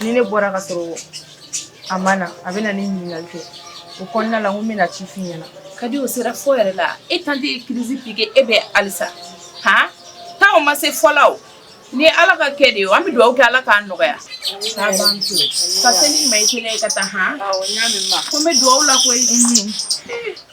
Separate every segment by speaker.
Speaker 1: ni ne bɔra ka sɔrɔ a ma na a bɛ na ne ɲininkali kɛ o kɔnɔna la ko n bɛna ci f'i ɲɛna ka di o sera fɔ
Speaker 2: yɛrɛ la e tanti ye crise piqué e bɛ alisa han taa o ma se fɔ la o ni ala ka kɛ de ye an bɛ dugawu kɛ ala k'a nɔgɔya k'a ban to ka seli ma i kelen ye ka taa han ko n bɛ dugawu la koyi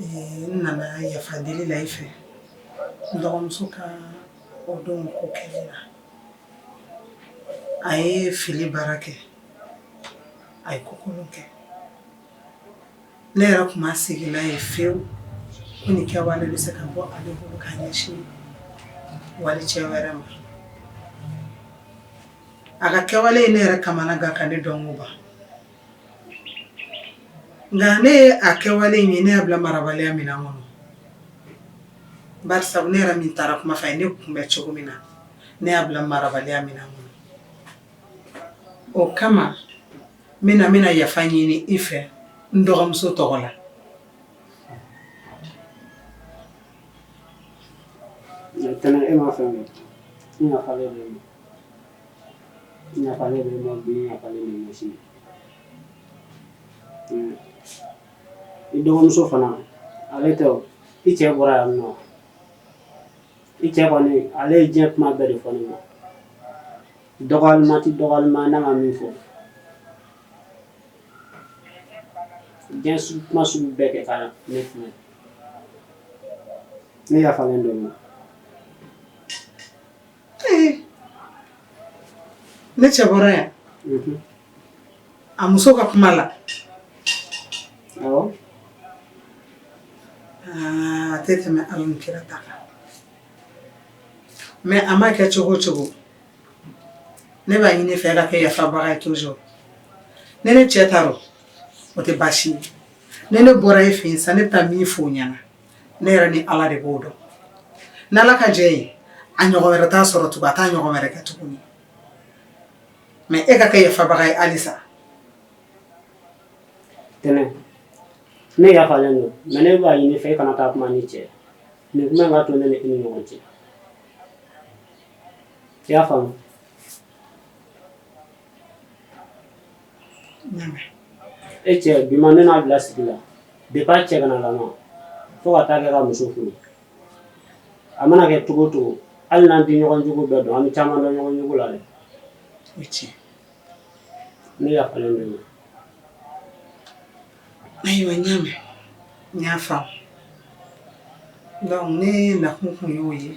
Speaker 3: n nana yafa deli la i fɛ n dɔgɔmuso ka o don ko kɛlen na a ye fili baara kɛ a ye ko kolon kɛ ne yɛrɛ tun ma sigi n'a ye fewu ko nin kɛwale bɛ se ka bɔ ale bolo ka ɲɛsin wali cɛ wɛrɛ ma a ka kɛwale ye ne yɛrɛ kamana gan ka ne dɔnkoba Nka ne ye a kɛwale in ye ne y'a bila marabaliya min na n kɔnɔ bari sabu ne yɛrɛ min taara kuma f'a ye ne kun bɛ cogo min na ne y'a bila marabaliya min na n kɔnɔ o kama n bɛna n bɛna yafa ɲini i fɛ n dɔgɔmuso tɔgɔ la
Speaker 4: N yafalen b'i ma bi n yafalen b'i ma sini i dɔgɔmuso fana ale to i cɛ bɔra yan nɔ i cɛ kɔni ale ye diɲɛ kuma bɛɛ de fɔ ne ma dɔgɔyakuma tɛ dɔgɔyakuma na a ma min fɔ diɲɛ sugu kuma sugu bɛɛ kɛ ka na ne filɛ ne yafalen don i ma
Speaker 3: ne cɛ bɔra yan a muso ka kuma la a tɛ tɛmɛ ala ni kira ta kan mais a ma kɛ cogo cogo ne b'a ɲini i fɛ i ka kɛ yafabaga ye toujours ni ne cɛ taara o tɛ baasi ye ni ne bɔra e fɛ yen sa ne bɛ taa min fɔ o ɲɛna ne yɛrɛ ni ala de b'o dɔn ni ala ka jɛ ye a ɲɔgɔn wɛrɛ t'a sɔrɔ tugun a t'a ɲɔgɔn wɛrɛ kɛ tuguni mais e ka kɛ yafabaga ye halisa
Speaker 4: tɛnɛ ne yafalen don mais ne b'a ɲini i fɛ e kana taa kuma ni cɛ nin kuma ka to ne ni e ni ɲɔgɔn cɛ i y'a faamu e cɛ bi ma ne n'a bila sigi la depuis a cɛganan lama fo ka taa kɛ ka muso furu a mana kɛ cogo o cogo hali n'an tɛ ɲɔgɔn jogo bɛɛ dɔn an bɛ caman dɔn ɲɔgɔn jogo la dɛ o
Speaker 3: ye
Speaker 4: tiɲɛ ne yafalen don i
Speaker 3: ma ayiwa n y'a mɛn n y'a faamu donc ne nakun tun y'o ye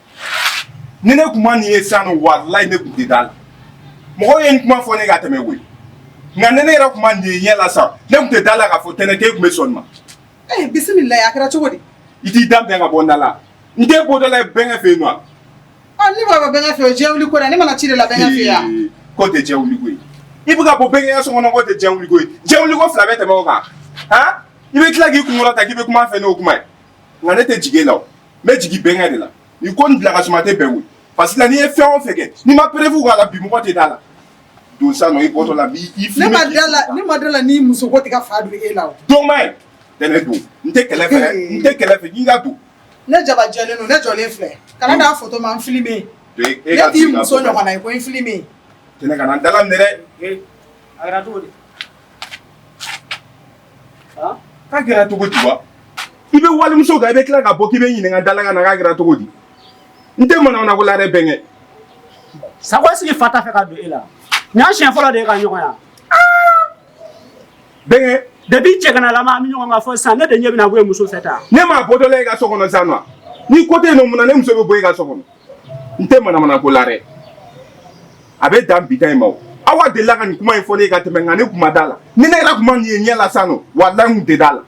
Speaker 5: ni ne kun ma nin ye sa nɔ walayi ne tun tɛ da la mɔgɔw ye n kuma fɔ ne ka tɛmɛ koyi nka ni ne yɛrɛ kun ma nin ye ɲɛ la sa ne tun tɛ da la k'a fɔ tɛnɛ k'e tun bɛ sɔn nin ma. ee bisimila
Speaker 3: a kɛra cogo di. i t'i da bɛn ka
Speaker 5: bɔ n da la n tɛ bɔ da la bɛnkɛ fɛ yen nɔ. ɔ
Speaker 3: ne b'a bɔ
Speaker 5: bɛnkɛ
Speaker 3: fɛ o diɲɛ wuli ko la ne
Speaker 5: mana
Speaker 3: ci de la bɛnkɛ
Speaker 5: fɛ
Speaker 3: yan. k'o tɛ diɲɛ
Speaker 5: wuli ko
Speaker 3: ye i bɛ
Speaker 5: ka bɔ bɛnkɛ so kɔnɔ k'o tɛ diɲɛ wuli ko ye diɲɛ wuli ko fila bɛ tɛmɛ o kan han i bɛ tila k'i kunkolo ta k'i bɛ kuma fɛ n'o kuma ye. nka ne tɛ jigin e la n bɛ jigin bɛnkɛ de la ni ko bila ka suma tɛ bɛn wuli parce que la n'i ye fɛn o fɛn kɛ n'i ma preuve k'a la bi mɔgɔ tɛ d'a la don sa nɔ i bɔtɔ la ma la
Speaker 3: ni muso ko tɛ ka fa don e la don tɛnɛ
Speaker 5: don n tɛ kɛlɛ n tɛ kɛlɛ fɛ k'i ka don ne
Speaker 3: jabajɛlen don ne jɔlen filɛ kana n'a fɔ ma n filime
Speaker 5: e muso ɲɔgɔn
Speaker 3: ko n filime kana dala
Speaker 5: minɛ dɛ a cogo k'a kɛra cogo di wa i bɛ walimuso kan i bɛ tila ka bɔ k'i bɛ ɲininka dala ka na k'a kɛra cogo di n tɛ manamana ko la dɛ bɛnkɛ
Speaker 4: sago sigi fa t'a fɛ ka don e la nin y'a siɲɛ fɔlɔ de ye ka ɲɔgɔn
Speaker 5: ya bɛnkɛ depuis
Speaker 4: cɛganalama an bɛ ɲɔgɔn kan fo sisan ne de ɲɛ bɛna bɔ e muso fɛ tan ne m'a bɔtɔla e ka so
Speaker 5: kɔnɔ sa nɔ ni ko tɛ yen nɔ mun na ne muso bɛ bɔ e ka so kɔnɔ n tɛ manamana ko la dɛ a bɛ dan bi ta in ma aw delila ka nin kuma in fɔ ne ye ka tɛmɛ nka ne kun ma da la ni ne yɛrɛ kun ma nin ye ɲɛ la sa nɔ walayi n tun tɛ da la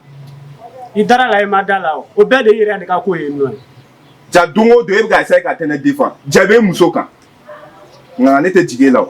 Speaker 5: i
Speaker 4: dara la i ma da la o bɛɛ de i yɛrɛ de ka ko ye nɔ ja don o
Speaker 5: don e bɛ ka essayer ka tɛnɛ defan ja bɛ muso kan nka ne tɛ jigin e la o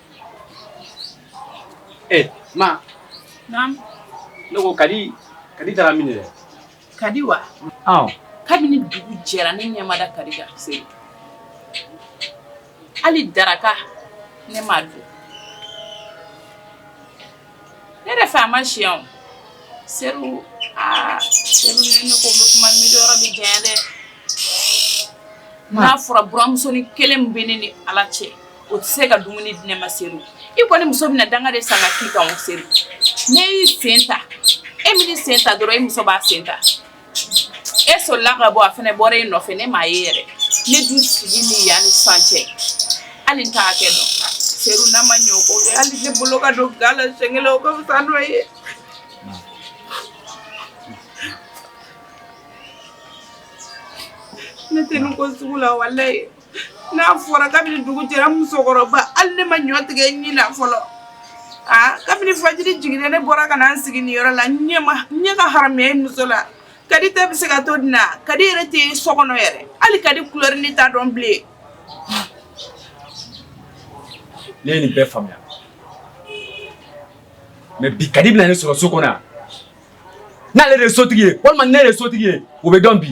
Speaker 6: Eh, ma.
Speaker 2: Naam. N
Speaker 6: ko kadi kadi taara min yɛrɛ kadi wa
Speaker 2: kabini dugu jɛra ne ɲɛ ma da kadi kan seru hali daraka ne m'a dun ne yɛrɛ fɛ a ma si yan o seru aa seru ni ne ko n bɛ kuma mɛnni yɔrɔ bɛ janya dɛ n'a fɔra buramusonin kelen min bɛ ne ni ala cɛ o tɛ se ka dumuni di ne ma seru i kɔni muso bɛna danga de san ka k'i kan o seru ne y'i sen ta e man'i sen ta dɔrɔn e muso b'a sen ta e solila ka bɔ a fana bɔra e nɔfɛ ne m'a ye yɛrɛ ne dun sigilen yan ni san cɛ hali n t'a kɛ dɔn seru n'a ma ɲɛ o ko kɛ hali ne bolo ka don ga la siɲɛ kelen o ka fisa n'o ye. ne tɛ nin ko sugu la walayi. N'a fɔra kabini dugu jɛra musokɔrɔba hali ne ma ɲɔ tigɛ ɲin na fɔlɔ aa kabini fajiri jiginna ne bɔra ka na n sigi nin yɔrɔ la n ɲɛ ka haramuya muso la kadi tɛ bɛ se ka to di n ma kadi yɛrɛ tɛ so kɔnɔ yɛrɛ hali kadi kulɛri ne t'a dɔn
Speaker 6: bilen ne ye nin bɛɛ faamuya mais bi kadi bɛna ne sɔrɔ so kɔnɔ yan n'ale de ye sotigi ye walima ne de ye sotigi ye o bɛ dɔn bi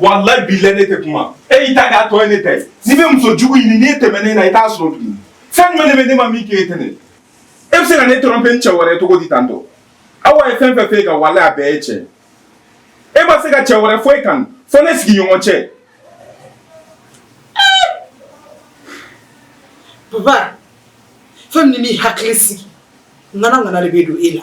Speaker 5: walayi bilayi ne tɛ kuma e y'i ta k'a tɔ ye ne ta ye n'i bɛ muso jugu ɲini n'i tɛmɛna ne na i t'a sɔrɔ tuguni fɛn jumɛn de bɛ ne ma min k'e ye tɛnɛ e bɛ se ka ne tromper ni cɛ wɛrɛ ye cogo di tan tɔ awa ye fɛn fɛn f'e kan walayi a bɛɛ ye tiɲɛ e ma se ka cɛ wɛrɛ fɔ i kan fo ne sigiɲɔgɔn
Speaker 3: cɛ. papa fɛn min b'i hakili sigi ŋana ŋana de bɛ don e la.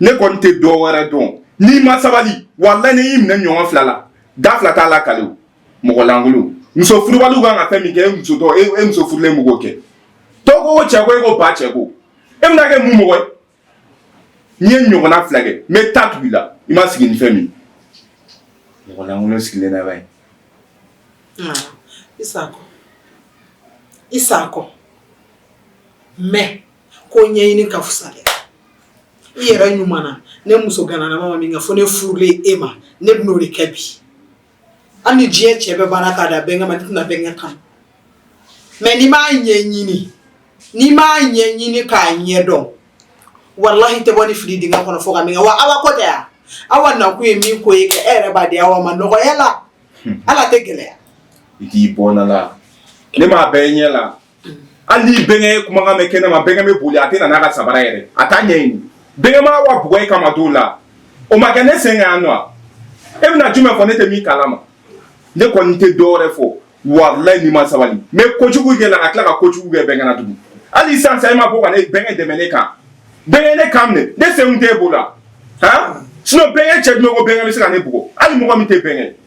Speaker 5: ne kɔni tɛ dɔ wɛrɛ dɔn n'i ma sabali walayi ne y'i minɛ ɲɔgɔn fila la da fila t'a la kali o mɔgɔ lankolon muso furubaliw kan ka fɛn min kɛ e muso furulen b'o kɛ dɔw ko ko cɛ ko e ko ba cɛ ko e bɛna kɛ mun mɔgɔ ye n'i ye ɲɔgɔnna fila kɛ n bɛ ta tugu i la i ma sigi ni fɛn min mɔgɔ lankolon sigilen na ba ye. I sako i
Speaker 3: sako mais. ko ɲɛɲini ka fusa dɛ i yɛrɛ ɲuman na ne muso gananama ma min kɛ fo ne furulen e ma ne bɛn'o de kɛ bi hali ni diɲɛ cɛ bɛɛ banna ka dan bɛnkɛ ma ne tɛna bɛnkɛ kanu mais n'i m'a ɲɛɲini n'i m'a ɲɛɲini k'a ɲɛ dɔn walahi tɛ bɔ ni fili dingɛ kɔnɔ fɔ ka min wa ala ko tɛ yan awa nakun ye min ko ye kɛ e yɛrɛ b'a di awa ma nɔgɔya la hmm. ala tɛ gɛlɛya i k'i bɔnna
Speaker 5: la ne m'a bɛɛ ɲɛ la hali ni bɛnkɛ ye kumakan mɛn kɛnɛ ma bɛnkɛ bɛ boli a tɛ na n'a ka sabara yɛrɛ a t'a ɲɛɲini bɛnkɛ ma awa bugɔ e kama don la o ma kɛ ne sen kan yan nɔ e bɛna jumɛn fɔ ne tɛ min kalama ne kɔni tɛ dɔ wɛrɛ fɔ walayi n'i ma sabali n bɛ kojugu k'e la ka tila ka kojugu kɛ bɛnkɛ na tugun hali sisan sa e ma bɔ ka ne bɛnkɛ dɛmɛ ne kan bɛnkɛ ne kan minɛ ne sen kun t'e bolo la han sinon bɛnkɛ cɛ jumɛn ko bɛnkɛ bɛ se ka ne bugɔ hali mɔgɔ min tɛ bɛnkɛ ye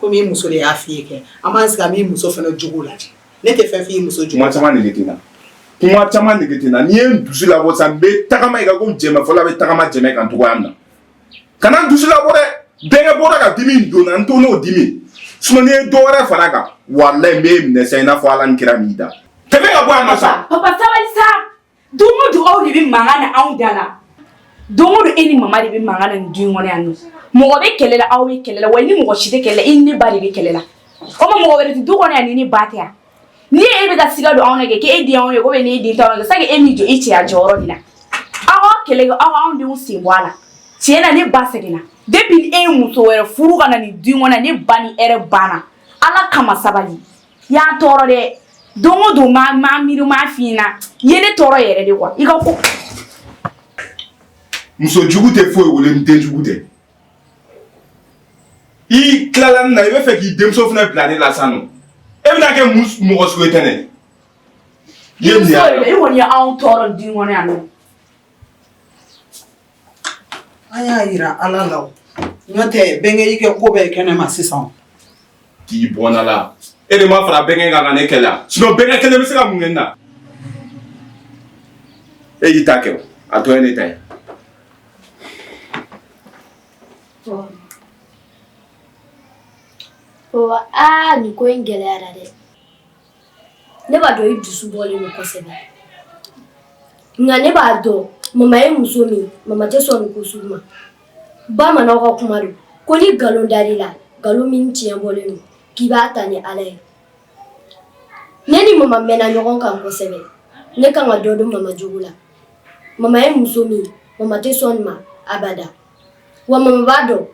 Speaker 3: ko muso de y'a f fɔ kɛ an b'a sigi an muso fana jugu la ne tɛ fɛn fɔ muso caman
Speaker 5: kuma caman n'i ye dusu la san bɛ tagama i ka ko jɛ fɔlɔ bɛ tagama jɛmɛ kan cogoya na ka na dusu la dɛ denkɛ bɔra ka dimi don n to n'o dimi s ye dɔw wɛrɛ fara kan wa n bɛ minɛ i n'a fɔ ala kira min da ka bɔ sa
Speaker 7: Don o don aw de bɛ mankan na anw da la don o don e ni mama de bɛ mankan na nin du in kɔnɔ yan nɔ mɔgɔ bɛ kɛlɛ la aw bɛ kɛlɛ la wa i ni mɔgɔ si tɛ kɛlɛ la i ni ne ba de bɛ kɛlɛ la o tuma mɔgɔ wɛrɛ tɛ du kɔnɔ yan ni ne ba tɛ yan ni e bɛ ka siga don anw na kɛ k'e den anw ye komi n'e den t'anw na kɛ c'est que e m'i jɔ i cɛya jɔyɔrɔ de la aw k'aw kɛlɛ kɛ aw k'anw denw sen bɔ a la tiɲɛ na ne ba sɛgɛnna depuis e ye muso wɛrɛ furu ka na nin du in kɔnɔ yan ne ba ni hɛrɛ banna Ala kama sabali i y'an tɔɔrɔ dɛ don o don ma ma miiri ma f'i ɲɛna i ye ne tɔɔrɔ yɛrɛ de quoi i ka
Speaker 5: ko muso jugu tɛ foyi wolo ni den jugu tɛ i tilala ne na i b'a fɛ k'i denmuso fana bila ne la san nɔ e bɛna kɛ mun mɔgɔ sugu ye tɛnɛ
Speaker 7: i ye nin y'a denmuso ye i kɔni ye anw tɔɔrɔ du in kɔnɔ yan nɔ
Speaker 3: An y'a jira ala la n'o tɛ bɛnkɛ y'i kɛ ko bɛɛ kɛ ne ma sisan k'i
Speaker 5: bɔ n'a la e de ma fara bɛnkɛ kan ka ne kɛlɛ sinon bɛnkɛ kelen bɛ se ka mun kɛ n na e y'i ta kɛ a tɔ ye ne ta
Speaker 8: ye nin ko in gɛlɛyara dɛ ne b'a dɔn i dusu bɔlen don kosɛbɛ nka ne b'a dɔn mama ye muso min mama tɛ sɔn nin ko sugu ma bamananw ka kuma don ko ni nkalon dar'i la nkalon min tiɲɛ bɔlen don k'i b'a ta ni ala ye ne ni mama mɛnna ɲɔgɔn kan kosɛbɛ ne kan ka dɔ dɔn mama jogo la mama ye muso min mama tɛ sɔn nin ma abada wa mama b'a dɔn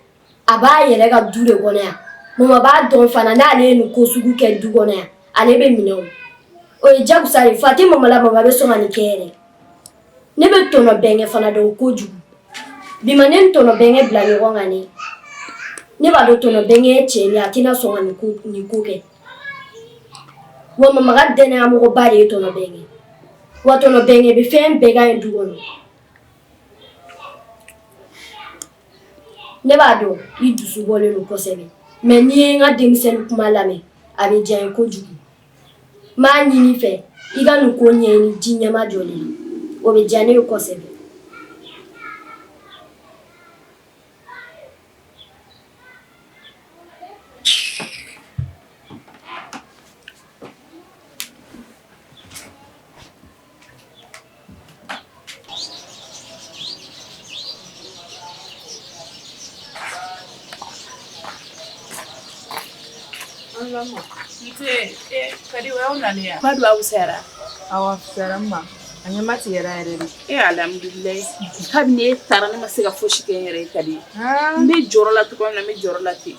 Speaker 8: a b'a yɛrɛ ka du de kɔnɔ yan mama b'a dɔn fana n'ale ye nin ko sugu kɛ du kɔnɔ yan ale bɛ minɛ o o ye jagosa ye fa tɛ mama la mama bɛ sɔn ka nin kɛ yɛrɛ ne bɛ tɔnɔ bɛnkɛ fana dɔn kojugu bi ma ne ni tɔnɔ bɛnkɛ bila ɲɔgɔn kan ne ne b'a dɔn tɔnɔ bɛnkɛ ye cɛ de ye a tɛna sɔn ka nin ko nin ko kɛ wa mama ka dannayamɔgɔba de ye tɔnɔ bɛnkɛ wa tɔnɔ bɛnkɛ bɛ fɛn bɛɛ ka ɲi du kɔnɔ ne b'a dɔn i dusu bɔlen don kosɛbɛ mais n'i ye n ka denmisɛnnin kuma lamɛn a bɛ diya n ye kojugu n b'a ɲini i fɛ i ka nin ko ɲɛɲini ji ɲɛmajɔlen na o bɛ diya ne ye kosɛbɛ
Speaker 2: Badu aw sera aw
Speaker 1: sera ma a ɲɛ ma tigɛ yɛrɛ yɛrɛ de e
Speaker 2: alhamdulillah kabini ne taara ne ma se ka foyi si kɛ yɛrɛ Kadi n bɛ jɔrɔ la tɔgɔ n bɛ jɔrɔ la ten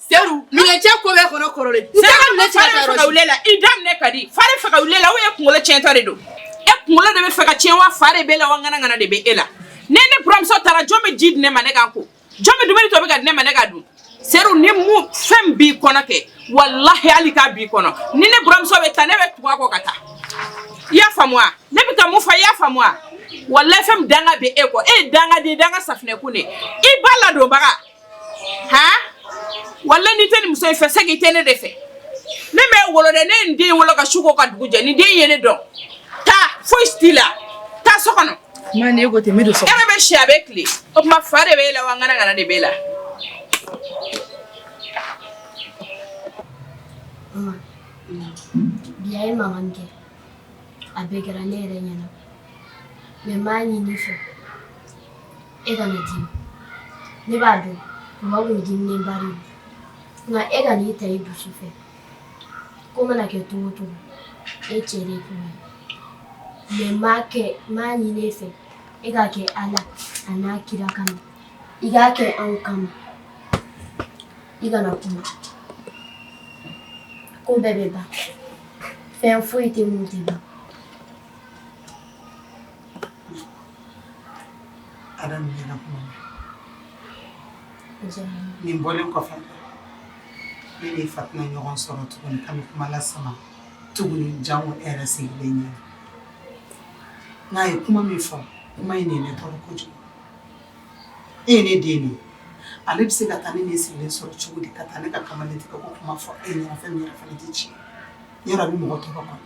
Speaker 1: Sedu minɛ cɛ ko bɛ
Speaker 2: kɔnɔ kɔrɔlen i da minɛ cɛ Kadi fa de fɛ ka wuli e la o e kunkolo cɛntɔ de don e kunkolo de bɛ fɛ ka cɛn wa fa de b'e la wa ŋanaŋana de bɛ e la ni ne buranmuso taara jɔn bɛ ji di ne ma ne ka n ko jɔn bɛ dumuni tobi k'a di ne ma ne ka dun sedu ni min fɛn b'i kɔnɔ kɛ walayi hali k'a b'i kɔnɔ ni ne buranmuso bɛ taa ne bɛ tugu a kɔ ka taa i y'a faamu ne bɛ taa mun fa i y'a faamu walayi fɛn danga bɛ e kɔ e ye danga de danga safunɛ kun de i ba ladonbaga Han walayi n'i tɛ nin muso in fɛ c'est que i tɛ ne de fɛ ne m'e wolo dɛ ne ye nin den in wolo ka su ko ka dugu jɛ nin den in ye ne dɔn taa foyi si t'i la taa so kɔnɔ ma ni e ko ten n bɛ
Speaker 1: don so kɔnɔ e ɲɛ bɛ si a bɛ tile
Speaker 2: o tuma fa de b'e la wa ŋanaŋana de b'e la bi a ye mankan
Speaker 8: min kɛ a bɛɛ kɛra ne yɛrɛ ɲɛna mais n b'a ɲini e fɛ e kana dimi ne b'a dɔn mɔgɔ bɛ dimi bari nka e kana nin ta i dusu fɛ ko mana kɛ cogo cogo e cɛ de kuma mais n b'a kɛ n b'a ɲini e fɛ e k'a kɛ ala a n'a kira kama i k'a kɛ anw kama i kana kuma ko bɛɛ bɛ ban fɛn foyi tɛ mun tɛ ban
Speaker 3: Adam n y'e la kuma mɛn. Diyara n ye. Nin bɔlen kɔfɛ, ne ni fa tɛna ɲɔgɔn sɔrɔ tuguni ka nin kuma lasama tuguni janko e yɛrɛ sigilen ɲɛna. Nka a ye kuma min fɔ, kuma in de ye ne tɔɔrɔ kojugu. E ye ne den de ye, ale bɛ se ka taa ne ni e sigilen sɔrɔ cogo di ka taa ne ka kamalen tigɛ ko kuma fɔ e ɲɛna fɛn min yɛrɛ fana tɛ tiɲɛ ye. Yɔrɔ a bɛ mɔgɔ tɔɔrɔ kɔni.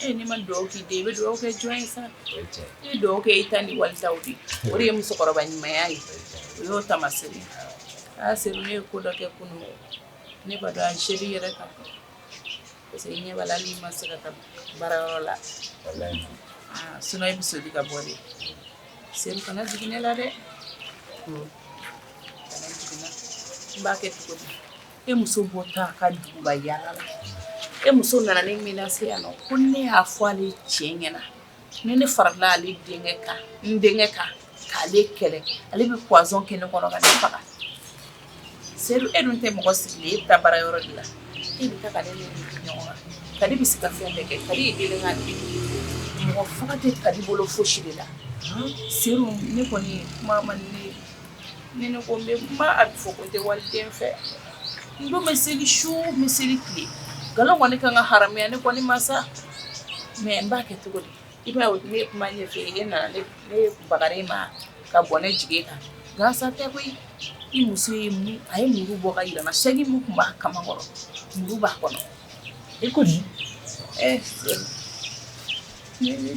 Speaker 2: e n'i ma dugawu k'i den i bɛ dugawu kɛ jɔn ye sa i bɛ dugawu kɛ i ta ni wali taw de o de ye musokɔrɔba ɲumanya ye o y'o taamasere aa seru ne ye ko dɔ kɛ kunun ne b'a dɔn an seli yɛrɛ kan parce que ɲɛ b'a la n'i ma se ka taa baarayɔrɔ la sinon i bɛ soli ka bɔ de seru kana jigin ne la dɛ kana jigin n b'a kɛ cogo di E muso bɔtɔ a ka duguba yaala la e muso nana ne menace yan nɔ ko ne y'a fɔ ale cɛ ɲɛna na ni ne farala ale denkɛ kan n denkɛ kan k'ale kɛlɛ ale bɛ poison kɛ ne kɔnɔ ka ne faga seru e dun tɛ mɔgɔ sigilen e bɛ taa baarayɔrɔ de la e bɛ taa ka ne kadi bɛ se ka fɛn bɛɛ kɛ kadi ye délinquante mɔgɔ faga tɛ kadi bolo fosi de la seru ne kɔni kuma man ne Ni ne ko n bɛ kuma a bɛ fɔ ko n tɛ waliden fɛ n dun bɛ seli su n bɛ seli tile nkalon kɔni ka kan ka haramuya ne kɔni ma sa mais n b'a kɛ cogo di i b'a ye ne ye kuma ɲɛfɛ e nana ne bagara e ma ka bɔ ne jigi kan gansan tɛ koyi i muso ye a ye muru bɔ k'a yira n na sɛgi min tun b'a kamankɔrɔ muru b'a kɔnɔ e ko di
Speaker 6: ɛ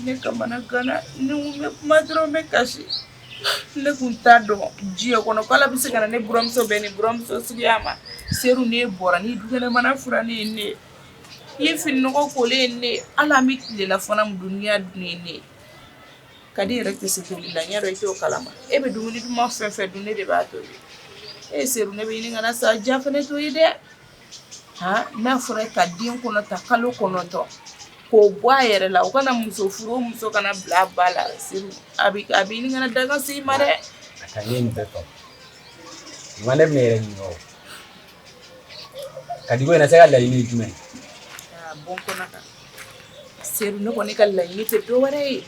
Speaker 2: ne kamanaganna ne bɛ kuma dɔrɔn n bɛ kasi Ne tun t'a dɔn diɲɛ kɔnɔ ko Ala bɛ se ka na ne buranmuso bɛn nin buranmuso suguya ma seru n'e bɔra n'i dukɛnɛmana furannen ye ne i ye fini nɔgɔ kolen ye ne hali an bɛ tilelafana min dun n'i y'a dun ni ye ne kadi yɛrɛ tɛ se tobili la n y'a dɔn i t'o kalama e bɛ dumuni duman fɛn fɛn dun ne de b'a tobi ee seru ne b'a ɲini i kana sa diya fana to ye dɛ n'a fɔra ka den kɔnɔ ta kalo kɔnɔntɔn k'o bɔ a yɛrɛ la o kana muso furu muso kana bila a ba la seru a bɛ ɲini ka na danga se i ma dɛ
Speaker 6: ma ne yɛrɛ kadi ko sa e ka laɲini ye jumɛn ye
Speaker 2: seru ne kɔni ka laɲini tɛ dɔwɛrɛ ye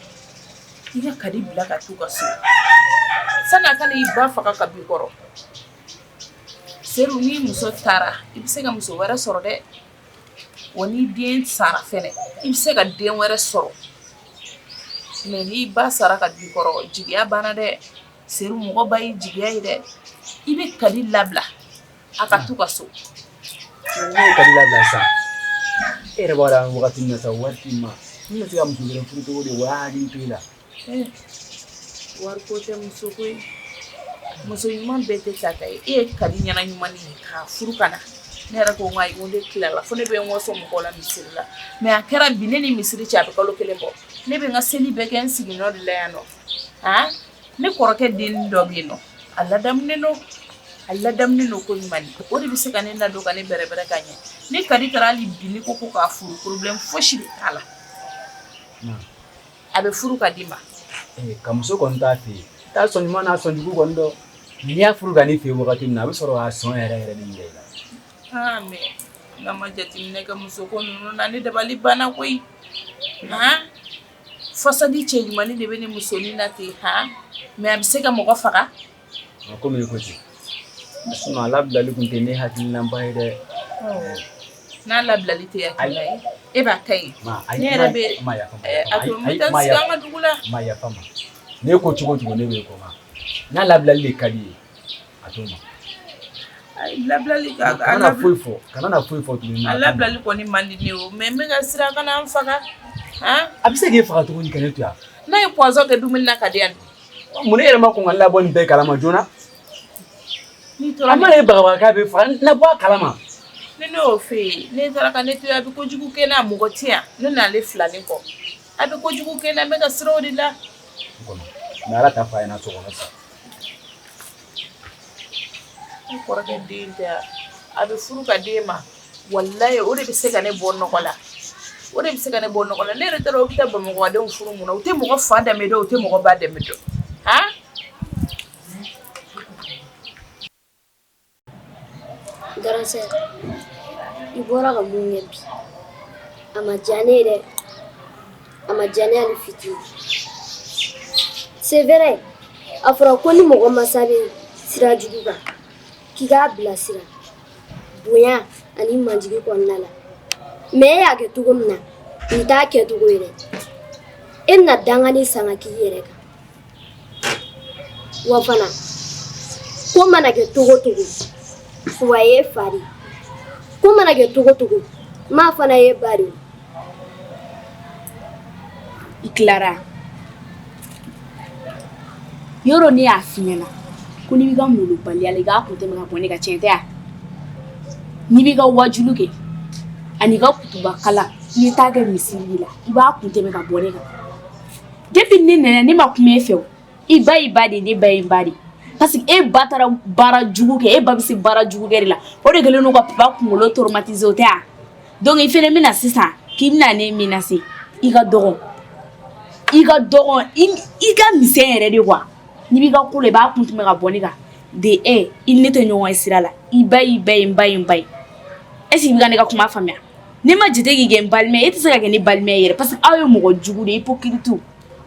Speaker 2: i ka kadi bila ka t'u ka so sani a ka na i ba faga ka b'i kɔrɔ Seru ni muso taara i bɛ se ka muso wɛrɛ sɔrɔ dɛ wa ni den sara fɛnɛ i bɛ se ka den wɛrɛ sɔrɔ mais n'i ba sara ka b'i kɔrɔ jigiya banna dɛ seru mɔgɔ ba ye jigiya ye dɛ i bɛ kadi labila a ka t'u ka so
Speaker 6: e yɛrɛ b'a dɔn waati min na wari t'i ma n bɛ se ka muso wɛrɛ furu cogo di
Speaker 2: wari ko tɛ muso ko ye muso ɲuman bɛɛ tɛ ta ta ye e ye kadi ɲɛna ɲuman de ye k'a furu ka na ne yɛrɛ ko n ka ko de dilala fo ne bɛ n waso mɔgɔw la misiri la mais a kɛra bi ne ni misiri cɛ a bɛ kalo kelen bɔ ne bɛ n ka seli bɛɛ kɛ n sigiyɔrɔ de la yan nɔ aa ne kɔrɔkɛ den dɔ bɛ yen nɔ a ladamunen don a ladamunen don ko ɲuman o de bɛ se ka ne ladon ka ne bɛrɛbɛrɛ ka ɲɛ ni kadi taara hali bi ne ko ko k'a furu problème fosi de t'a la a bɛ furu ka d'i ma ka
Speaker 6: muso kɔni t'a fɛ t'a sɔn ɲuman n'a sɔn jugu kɔni dɔn n'i y'a furu ka n'i fɛ wagati min na a bɛ sɔrɔ k'a sɔn yɛrɛ yɛrɛ de yira i
Speaker 2: la n'a ma jateminɛ kɛ muso ko ninnu na ne dabali banna koyi façade cɛ ɲumanin de bɛ ne musonin na ten ha mais a bɛ se ka mɔgɔ faga A komi i
Speaker 6: ko ten a labilali tun tɛ ne hakilinaba ye
Speaker 2: dɛ n'a labilali tɛ hakilina ye e b'a ka ɲi ne yɛrɛ bɛ taa sigi an ka dugu
Speaker 6: la ne ko cogo cogo ne b'i kɔ n'a labilali de ka di i ye a to
Speaker 2: labilali kana
Speaker 6: foyi fɔ kana foyi fɔ tuguni a labilali kɔni man
Speaker 2: di ne o mais n bɛ ka siran a kana n faga a bɛ
Speaker 6: se k'i faga tuguni ka ne to yan n'a ye poison kɛ dumuni
Speaker 2: na ka di yan Mun na e yɛrɛ
Speaker 6: ma kɔn ka ne labɔ nin bɛɛ kalama joona a mana i bagabaga k'a b'i faga ne bɔ a kalama ne ne y'o fɔ
Speaker 2: e ye n'e taara ka ne to a bɛ kojugu kɛ n na mɔgɔ tɛ yan ne n'ale filanin kɔ a bɛ kojugu kɛ n na n bɛ ka siran o de
Speaker 6: la mais ala t'a fɔ a ɲɛna sa ne kɔrɔkɛ
Speaker 2: den tɛ a bɛ furu ka d'e ma walayi o de bɛ se ka ne bɔ nɔgɔ la o de bɛ se ka ne bɔ nɔgɔ la ne yɛrɛ taara u bɛ taa bamakɔdenw furu mun na u tɛ mɔgɔ fa danbe dɔn u tɛ mɔgɔ ba danbe dɔn
Speaker 8: garan i bɔra ka mun ye bi a ma diya ne ye dɛ a ma diya ne hali fitinin c'est vrai a fɔra ko ni mɔgɔ masa bɛ sira jugu kan k'i k'a bilasira bonya ani majigi kɔnɔna la mais e y'a kɛ cogo min na nin t'a kɛ cogo ye dɛ e na dangani san k'i yɛrɛ kan wa fana ko mana kɛ cogo cogo wa ye fa de ko mana kɛ cogo cogo maa fana ye ba de
Speaker 7: i tilara Yɔrɔ ne y'a f'i ɲɛna ko n'i b'i ka molobaliya la, i k'a kun tɛmɛ ka bɔ ne kan, tiɲɛ tɛ wa? N'i b'i ka wajulu kɛ ani i ka kutubakalan i ye taa kɛ misiri de la, i b'a kun tɛmɛ ka bɔ ne kan depuis ni ne nana yan ne ma kuma e fɛ wo, i ba y'i ba de ye, ne ba ye n ba de ye parce que e ba taara baara jugu kɛ, e ba bɛ se baara jugu kɛ de la, o de kɛlen don ka papa kunkolo traumatisé o tɛ wa? donc i fana bɛna sisan k'i bɛna ne menacer i ka dɔgɔ i ka dɔgɔ i ka misɛn yɛrɛ de quoi n'i b'i ka ko la i b'a kun tɛmɛ ka bɔ ne kan dɛ, i ni ne tɛ ɲɔgɔn ye sira la i ba y'i ba ye n ba ye n ba ye est ce que i bɛ ka ne ka kuma faamuya ne ma jate k'i kɛ n balima ye e tɛ se ka kɛ ne balima ye yɛrɛ parce que aw ye mɔgɔ jugu de ye hypocrite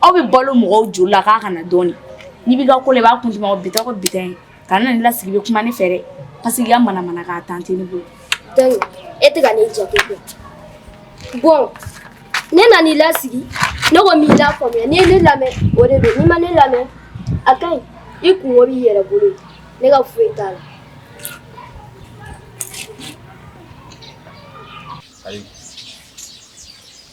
Speaker 7: aw bɛ balo mɔgɔw joli la k'a kana dɔɔnin n'i b'i ka ko la i b'a kun tɛmɛ ka bita ko bita ye Ka na ne lasigi i bɛ kuma ne fɛ dɛ parce que i ka manamanakan temps tɛ ne bolo
Speaker 8: e tɛ ka ne jate bon ne nana i lasigi ne ko n b'i lafaamuya n'i ye ne lamɛn o de don n'i ma ne lamɛn a ka ɲi i kunko b'i yɛrɛ bolo ne ka foyi t'a la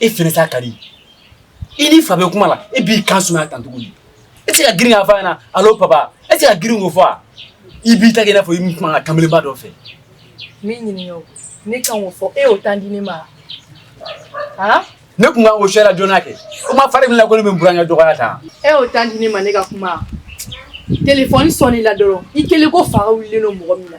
Speaker 6: E fɛnɛ sa Kadi i ni n fa bɛ kuma la e b'i kan suma tan tuguni e tɛ se ka girin k'a f'a ɲɛna allô papa e tɛ se ka girin k'o fɔ i b'i ta kɛ i n'a fɔ i bɛ kuma kanbeleba dɔ fɛ n b'i
Speaker 1: ɲini ne kan k'o fɔ e y'o temps di ne ma ne
Speaker 6: tun ko sera jɔn kɛ o ma fari min la ko n bɛ n burankɛ dɔgɔya tan e y'o temps di ne ma
Speaker 1: ne ka kuma téléphone sɔnna dɔrɔn i kɛlen ko fa wili mɔgɔ min na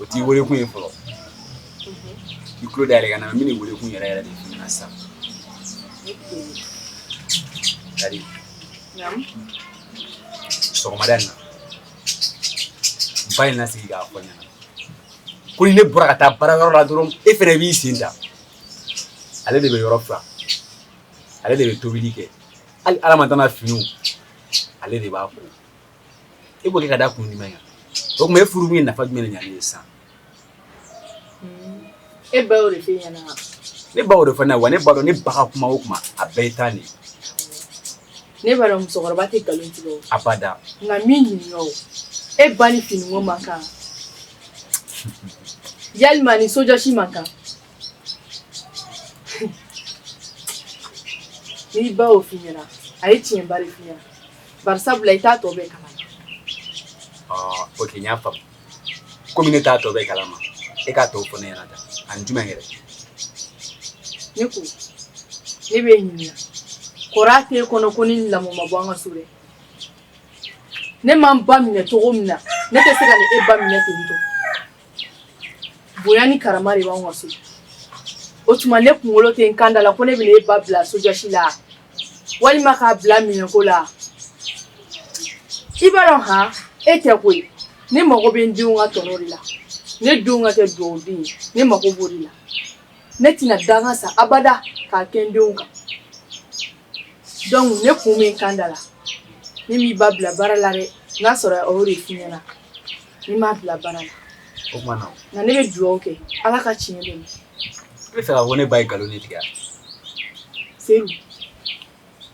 Speaker 6: o t'i weelekun ye fɔlɔ i tulo da yɛlɛ ka ɲa n bɛn'i weelekun yɛrɛ yɛrɛ de f'i ɲɛna sisan Kadi sɔgɔmada in na n ba ye n lasigi k'a fɔ n ɲɛna ko ni ne bɔra ka taa baara yɔrɔ la dɔrɔn e fɛnɛ b'i sen ta ale de bɛ yɔrɔ furan ale de bɛ tobili kɛ hali Aramata la finiw ale de b'a ko e b'o kɛ ka da kun jumɛn kan o tuma e furulen ye nafa jumɛn ɲa ne ye sisan
Speaker 1: e ba de ne ba y'o de fɔ
Speaker 6: ne ye wa ne b'a dɔn ne ba ka kuma o kuma a bɛɛ ye tiɲɛ
Speaker 1: ye ne ba musokɔrɔba tɛ nkalon tigɛ abada nka n b'i
Speaker 6: ɲininka
Speaker 1: e ba ni fini man kan yalima ni sojɔsi man kan n'i ba y'o f'i ɲɛna a ye tiɲɛba de f'i ɲɛna bari sabula i t'a tɔ bɛɛ
Speaker 6: kalama ok n y'a faamu komi ne t'a tɔ bɛɛ kalama e k'a tɔ fɔ ne ɲɛna tan ani
Speaker 1: jumɛn
Speaker 6: yɛrɛ
Speaker 1: ne ko ne bɛ ɲininka kɔrɔ tɛ e kɔnɔ ko ni lamɔ ma bɔ an ka so dɛ ne ma n ba minɛ cogo min na ne tɛ se ka ni e ba minɛ ten tɔ Bonya ni karama de b'an ka so o tuma ne kunkolo tɛ n kanda la ko ne bɛ e ba bila sojɔsi la walima k'a bila minɛko la i b'a dɔn han e tɛ koyi ne mago bɛ n denw ka tɔnɔ de la ne denw ka kɛ dugawu den ye ne mago b'o de la ne tɛna danga sa abada k'a kɛ n denw kan donc ne kun bɛ n kanda la ne m'i ba bila baara la dɛ n'a sɔrɔ o de f'i ɲɛna Ne m'a bila baara la o kuma
Speaker 6: na nka ne bɛ dugawu
Speaker 1: kɛ ala ka tiɲɛ dɛmɛ i b'a fɛ
Speaker 6: ka fɔ ne ba ye nkalon de
Speaker 1: tigɛ seyidu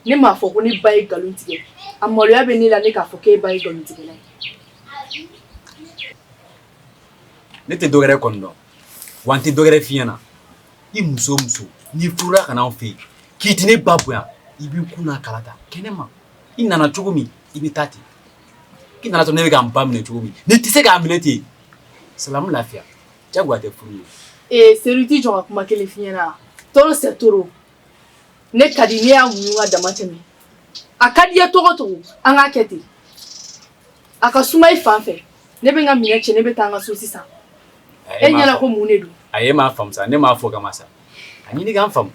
Speaker 1: ne m'a fɔ ko ne ba ye nkalon tigɛ a maloya bɛ ne la ne k'a fɔ k'e ba ye nkalon tigɛla
Speaker 6: ye ne tɛ dɔwɛrɛ kɔni dɔn wa n tɛ dɔwɛrɛ f'i ɲɛna i muso muso n'i furula ka n'anw fɛ yen k'i tɛ ne ba bonya i b'i kun n'a kala ta kɛnɛma i nana cogo min i bɛ taa ten K'i nana sɔrɔ ne bɛ ka n ba minɛ cogo min n'i tɛ se k'a minɛ ten salamu lafiya jagoya tɛ furu ye ee seyidu i t'i jɔ n ka kuma
Speaker 1: kelen f'i ɲɛna trop c'est trop ne ka di ne y'a muɲu ka dama tɛmɛ a ka di i ye cogo o cogo an k'a kɛ ten a ka suma i fan fɛ ne bɛ n ka minɛn cɛ ne bɛ taa an ka so sisan e ɲɛna ko mun de don a e ma n faamuya ne
Speaker 6: m'a fɔ kama sa a ɲini ka n faamuya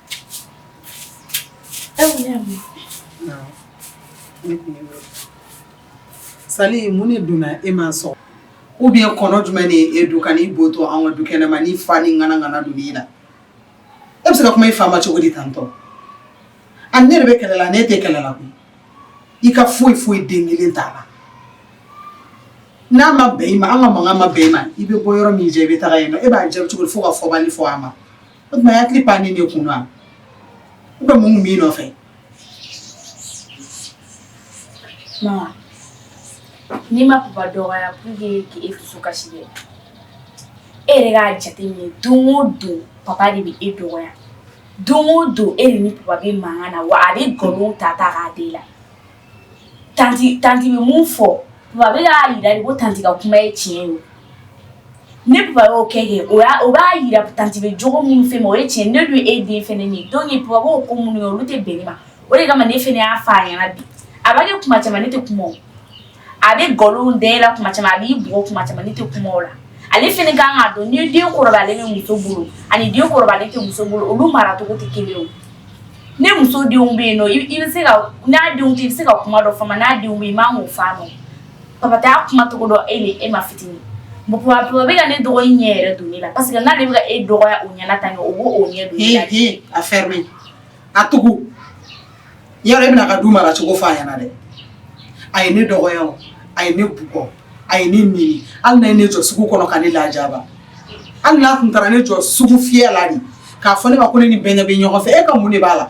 Speaker 3: Sali mun ne donna e ma sa ou bien kɔnɔ jumɛn de e don ka'i bɔ to an ka du kɛnɛ ma ni fa ni ŋanaŋana don i la e bɛ se ka kuma i fa ma cogo di tan tɔ a ne de bɛ kɛlɛ la ne tɛ kɛlɛ la koyi i ka foyi foyi den kelen t'a la n'a ma bɛn i ma an ka mankan ma bɛn i ma i bɛ bɔ yɔrɔ min jɛ i bɛ taa yen e b'a jaabi cogo di fo ka fɔbali fɔ a ma o tuma a ye hakili pan ne kun na u bɛ mun b'i nɔfɛ
Speaker 7: mama ne ma papa dɔgɔya pour que e dusu kasi dɛ e yɛrɛ k'a jateminɛ don o don papa de bɛ e dɔgɔya don o don e de ni papa bɛ mankan na wa a bɛ nkalon ta ta k'a d'e la tanti tanti bɛ mun fɔ papa bɛ k'a jira de ko tanti ka kuma ye tiɲɛ ye ni papa y'o kɛ o b'a jira tanti bɛ jogo minnu f'e ma o ye tiɲɛ ne dun ye e den fɛnɛ de ye donc papa b'o ko minnu kɛ olu tɛ bɛn ne ma o de kama ne fɛnɛ y'a fɔ a ɲɛna bi a b'a kɛ kuma caman ne tɛ kuma o a bɛ nkalon da e la kuma caman a b'i bugɔ kuma caman ne tɛ kuma o la ale fɛnɛ ka kan k'a dɔn ni den kɔrɔbayalen bɛ muso bolo ani den kɔrɔbayalen tɛ muso bolo olu maracogo tɛ kelen ye o ne muso denw bɛ yen nɔ i bɛ se ka n'a denw tɛ i bɛ se ka kuma dɔ fɔ a ma n'a denw bɛ yen i man k'o fɔ a ma o papa tɛ a kuma cogo dɔn e man fitinin papa bɛ ka ne dɔgɔnin ɲɛ yɛrɛ don ne la parce que n'ale bɛ ka e dɔgɔya o ɲɛna tan o b'o ɲɛ don ne la dɛ a
Speaker 3: fermer a tugu yan rɔ e bɛ na a ka du mara cogo fɔ a ɲɛna dɛ a ye ne dɔgɔya o a ye ne bugɔ a ye ne neni hali n'a ye ne jɔ sugu kɔnɔ ka ne lajaba hali n'a tun taara ne jɔ sugu fiyɛ la de k'a fɔ ne ma ko ne ni bɛnkɛ bɛ ɲɔgɔn fɛ e ka mun de b'a la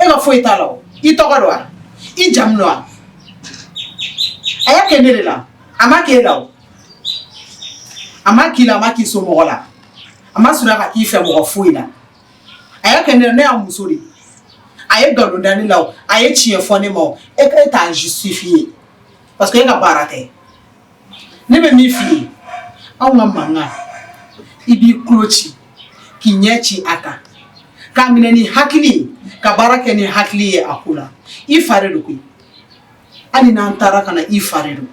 Speaker 3: e ka foyi t'a la o i tɔgɔ don wa i jamu don wa a y'a kɛ ne de la a ma k'e la o a ma k'i la a ma k'i somɔgɔ la a ma sɔrɔ ka k'i fɛ mɔgɔ foyi la a y'a kɛ ne la ne y'a muso de a ye nkalon da ne la o a ye tiɲɛ fɔ ne ma o e ko e t'a justifier parce que e ka baara tɛ ne bɛ min f'i ye anw ka mankan i b'i tulo ci k'i ɲɛ ci a kan k'a minɛ ni hakili ye ka baara kɛ ni hakili ye a ko la i fa de don koyi hali n'an taara ka na i fa de don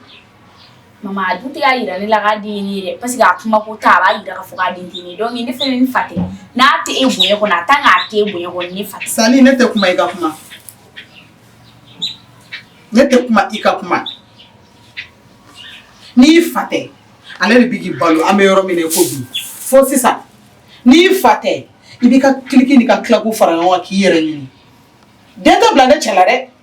Speaker 3: Maman
Speaker 7: a dun tɛ k'a yira ne la k'a den ye ne ye dɛ parce que a kuma ko tɛ a b'a jira k'a fɔ k'a den tɛ ne ye donc ne fɛnɛ n fa tɛ n'a tɛ e bonya kɔnɔ en tant que a tɛ e bonya kɔnɔ ne fa tɛ Sali ne tɛ kuma i ka kuma
Speaker 3: ne tɛ kuma i ka kuma n'i fa tɛ ale de bɛ k'i balo an bɛ yɔrɔ min na i ko bi fo sisan n'i fa tɛ i b'i ka cliques n'i ka claques fara ɲɔgɔn kan k'i yɛrɛ ɲini den tɛ bila ne cɛ la dɛ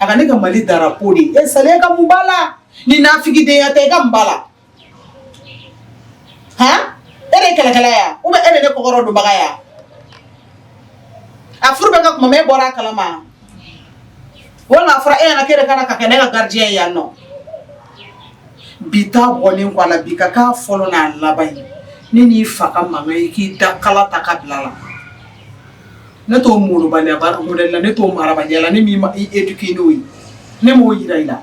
Speaker 3: a ka ne ka Mali drapeau de e Sali e ka mun b'a la ni nafigidenya tɛ i ka mun b'a la han e de kɛlɛkɛla ya ou bien e de ne kɔkɔrɔdonbaga ya a furu bɛ ka kuma e bɔra a kalama walima a fɔra e ɲɛna k'e de ka na ka kɛ ne ka gardien ye yan nɔ bi ta bɔlen kɔ a la bi ka k'a fɔlɔ n'a laban ye ne n'i fa ka mankan ye k'i da kala ta ka bila a la ne t'o malobaliya baara modèle la ne t'o marabaliya la ne m'i éduquer n'o ye ne m'o jira i la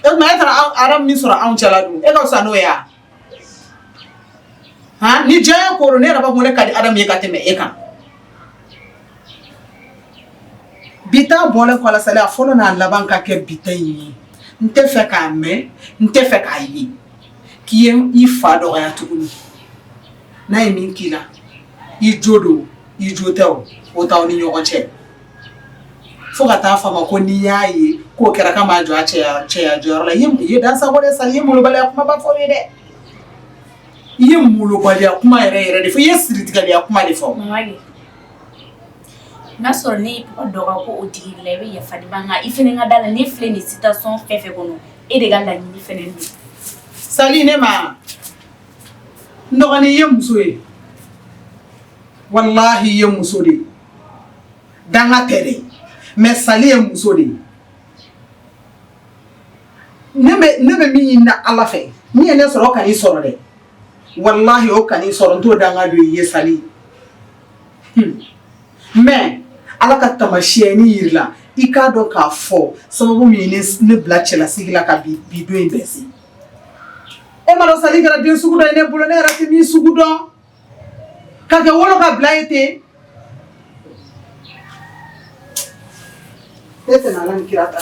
Speaker 3: e tuma e taara Adamu min sɔrɔ anw cɛla dun e ka fisa n'o ye wa han ni diyanyeko don ne yɛrɛ b'a fɔ ne ka di Adamu ye ka tɛmɛ e kan bi ta bɔlen kɔ a la Sali a fɔlɔ n'a laban ka kɛ bi ta in ye n tɛ fɛ k'a mɛn n tɛ fɛ k'a ye k'i ye i fa dɔgɔya tuguni n'a ye min k'i la i jo don i jo tɛ o o t'aw ni ɲɔgɔn cɛ fo ka taa fɔ a ma ko n'i y'a ye k'o kɛra k'a m'a jɔ a cɛya jɔyɔrɔ la i ye dan sago de sa i ye molobaliya kumaba fɔ ye dɛ i ye molobaliya kuma yɛrɛ yɛrɛ de fɔ i ye siritigɛliya kuma de fɔ
Speaker 7: n'a sɔrɔ ne ye papa dɔgɔ ko o tigi la i bɛ yafa i fana ka da a la ne filɛ nin situation fɛn fɛn kɔnɔ e de ka laɲini fana don Sali ne
Speaker 3: ma dɔgɔnin ye muso ye walahi ye muso de ye danga tɛ dɛ mais sali ye muso de ye ne bɛ min ɲini na Ala fɛ min ye ne sɔrɔ o kan'i sɔrɔ dɛ walahi o kan'i sɔrɔ n t'o danga don i ye sali hmm. mais Ala ka tamasiyɛni yir'i la i k'a dɔn k'a fɔ sababu min ye ne bila cɛlasigi la ka bi don in bɛɛ se e m'a dɔn sali kɛra den sugu dɔ ye ne bolo ne yɛrɛ tɛ min sugu dɔn ka kɛ wolo ka bila ye ten e tɛ Ala ni kira ta